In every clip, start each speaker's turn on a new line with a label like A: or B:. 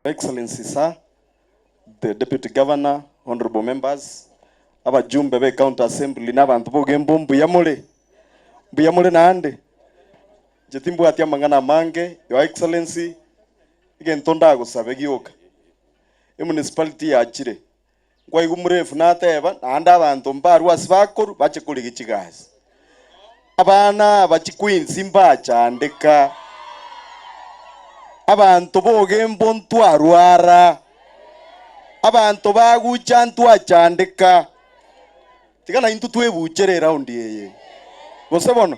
A: Excellency Sir, the Deputy Governor, Honourable Members, abajumbe be County Assembly na abanto bogembo mbuya more? Mbuya more naende? Inche timbwati amang'ana amange, Your Excellency, egento ndagosabe gioka. Emunicipality yachire, Nkwaigwa omorefu nateeba, naende abanto mbarwe ase bakoru bache korigia chigasi. Abana aba chiqueens mbachandeka, abanto bogembo ntwarwara, abanto bagucha ntwachandeka. Tiga naintwe twebuchere eraundi eye, gose bono?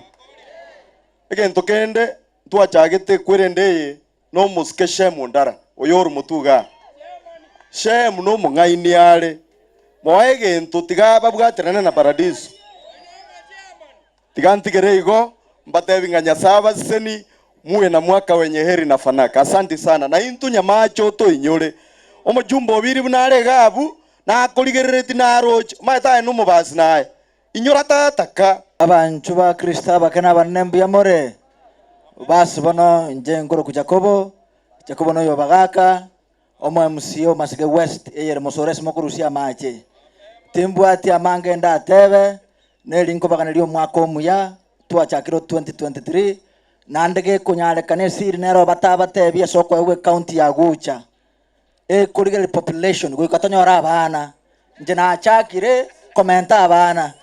A: Egento kende ntwachagete kwerende eye. nomosike Shemu ndara, oyor'omotuga aa. Shemu nomong'aini are, moa egento tiga babwaterane na Paradiso. Tiga ntigere igo, mbatebi ng'a Nyasae abaseseni, muwe na mwaka wenye heri na fanaka. Asanti sana. Naintwe nyamache otoinyore. Omochumba o biribu nare iga abwo, nakorigereretie naroche, omanyete aye nomobasi naye. Inyora Tata ka. Abanchwa ba
B: Kristo abake nabanene mbuya more. Base bono inche nkoroku Jakobo, Jakobo noy'obagaaka, omw-MC o Masege West eyere mosore ase mokorusia amache. Timbwati amange ndateebe, neri nkobaganeria omwaka omuya twachakire o 2023, naende gekonyareka nesiri nero batabatebi ase okoegwa ecounty ya Gucha. Eh, korigereria population goika tonyore abana. Inche nachakire komenta abana.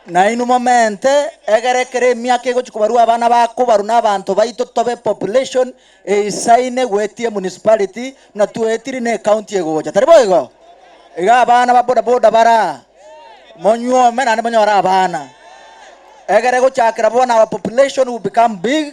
B: Nainwe momente egere ekero emiaka egochia kobarwa abana bakobarwa na abanto baito tobe population eisaine goetia emunicipality buna twaetiri na ecounty egocha. Tari boigo? Iga abana ba boda boda bare aa, monyuome naende monyore abana. Egere gochakera bono our population will become big